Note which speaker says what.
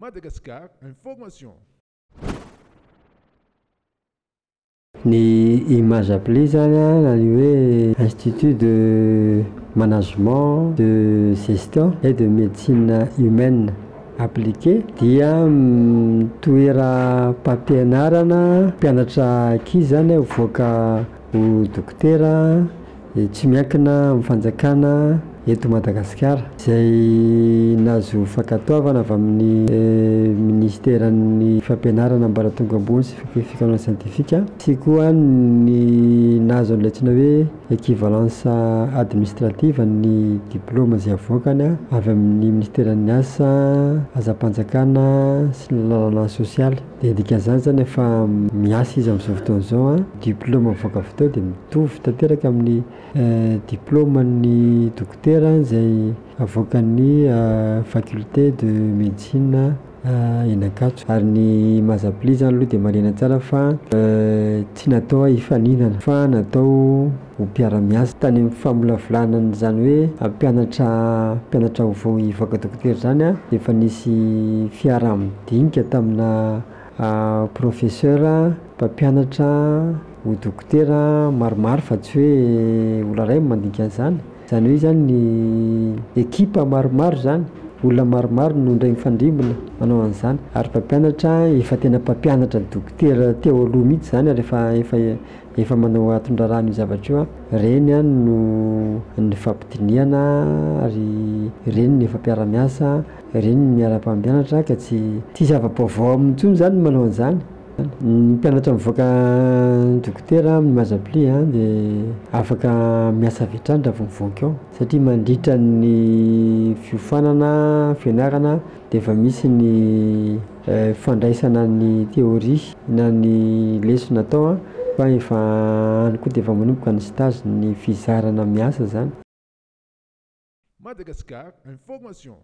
Speaker 1: Madagascar information.
Speaker 2: Ny image appli zany a na ny hoe institut de management, de gestion et de medecine humaine appliqué dia toeram-pampianarana mpianatra ankizy zany hivoaka ho dokotera Dia tsy miankina amin'ny fanjakana eto Madagasikara izay nahazo fankatoavana avy amin'ny minisiteran'ny fampianarana ambaratonga ambony sy fikarohana siantifika sy koa ny nahazo an'ilay antsoina hoe equivalence administrative ny diplaoma izay avoakany avy amin'ny minisiteran'ny asa, asam-panjakana sy ny lalana sosialy. Dia dikan'izany izany efa miasa izy amin'izao fotoana izao an, diplaoma mivoaka avy teo dia mitovy tanteraka amin'ny diplaoman'ny dokotera izay avoakan'ny faculté de médecine eny Ankatso. Ary ny maha zabilia izany aloha dia marihina tsara fa tsy natao hifaninana fa natao. ho mpiara-miasa. Tany amin'ny famolavolana an'izany hoe hampianatra mpianatra vaovao hivoaka dokotera izany dia efa nisy fiaraha-midinika tamina professeur mpampianatra ho dokotera maromaro fa tsy hoe olona iray no mandinika an'izany. Izany hoe izany ny ekipa maromaro izany, olona maromaro no indray mifandrimbona manao an'izany ary mpampianatra efa tena mpampianatra dokotera teo aloha mihitsy izany ary efa efa efa manao atondrarano io zavatra io an, reny an no nifampidinihana ary reny no efa mpiara-miasa, reny no miara-mpampianatra ka tsy tsy zava-baovao aminy intsony izany ny manao an'izany. Ny mpianatra mivoaka dokotera amin'ny maha Zbli an dia afaka miasa avy hatrany raha vao mivoaka eo satria mandritra ny fiofanana fianarana dia efa misy ny fandraisana ny théorie na ny lesona atao fa efa any koa dia efa manomboka ny stage ny fizarana miasa zany. Madagascar Informations.